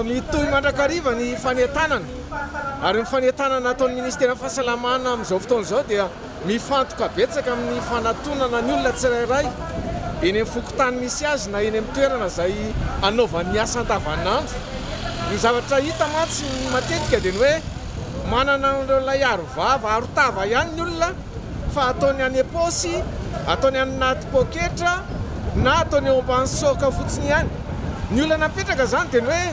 Mitohy mandrakariva ny fanentanana ary ny fanentanana ataon'ny Ministeran'ny Fahasalamana amin'izao fotoana izao dia mifantoka betsaka amin'ny fanatonana ny olona tsirairay eny amin'ny fokontany misy azy na eny amin'ny toerana izay anaovany ny asa andavanandro. Ny zavatra hita mantsy matetika dia ny hoe Manana an'ireo lay arovava, arotava ihany ny olona fa ataony any am-paosy, ataony any anaty poketra na ataony eo ambany soka fotsiny ihany. Ny olana mipetraka izany dia ny hoe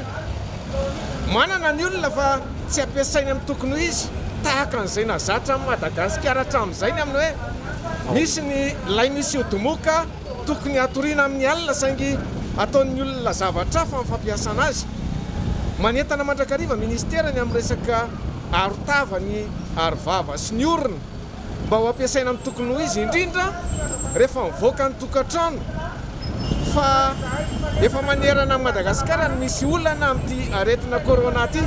manana ny olona fa tsy ampiasainy amin'ny tokony ho izy, tahaka an'izay nazatra an'i Madagasikara hatramin'izay ny amin'ny hoe misy ny lay misy ody moka, Tokony hatoriana amin'ny alina saingy ataon'ny olona zavatra hafa amin'ny fampiasana azy. Manentana mandrakariva Ministera ny amin'ny resaka arotava ny arovava sy ny orona mba ho ampiasaina amin'ny tokony ho izy indrindra rehefa mivoaka ny tokantrano fa efa manerana an'i Madagasikara ny misy olana amin'ity aretina Corona ity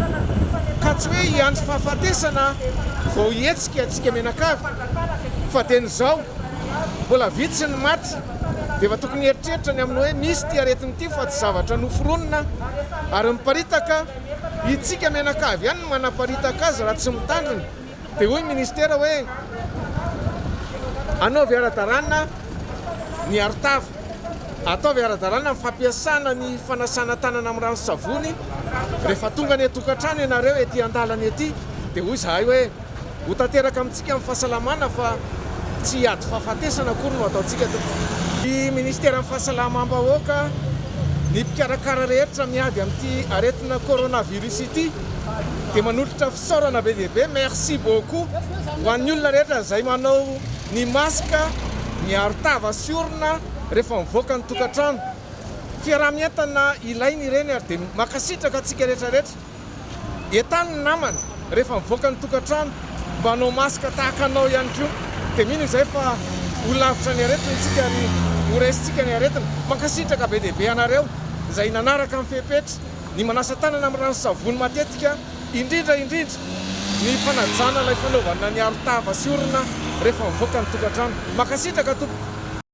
ka tsy hoe hiandry fahafatesana vao hihetsika antsika mianakavy fa dieny izao Mbola vitsy ny maty dia efa tokony hieritreritra ny amin'ny hoe misy ity aretina ity fa tsy zavatra noforonina ary miparitaka, itsika mianakavy ihany no manaparitaka azy raha tsy mitandrina dia hoy ministera hoe anaovy ara-dalàna ny arotava, ataovy ara-dalàna ny fampiasana ny fanasana tanana amin'ny rano sy savony rehefa tonga any an-tokantrano ianareo ety an-dalana ety dia hoy izahay hoe. Ho tanteraka amintsika ny fahasalamana fa tsy hiady fahafatesana akory no ataontsika tompoko. Ny Ministeran'ny Fahasalamam-bahoaka, ny mpikarakara rehetra miady amin'ity aretina coronavirus ity dia manolotra fisaorana be dia be, merci beaucoup, ho an'ny olona rehetra izay manao ny masque, ny arotava sy orona rehefa mivoaka ny tokantrano. Fiaraha-mientana ilaina ireny ary dia mankasitraka antsika rehetra rehetra. Entano ny namana rehefa mivoaka ny tokantrano mba hanao masque tahaka anao ihany koa dia mino izay fa ho lavitra ny aretina isika ary ho raisintsika ny aretina. Mankasitraka be dia be anareo izay nanaraka ny fepetra ny manasa tanana amin'ny rano sy savony matetika indrindra indrindra ny fanajana ilay fanaovana ny arotava sy orona rehefa mivoaka ny tokantrano. Mankasitraka tompoko.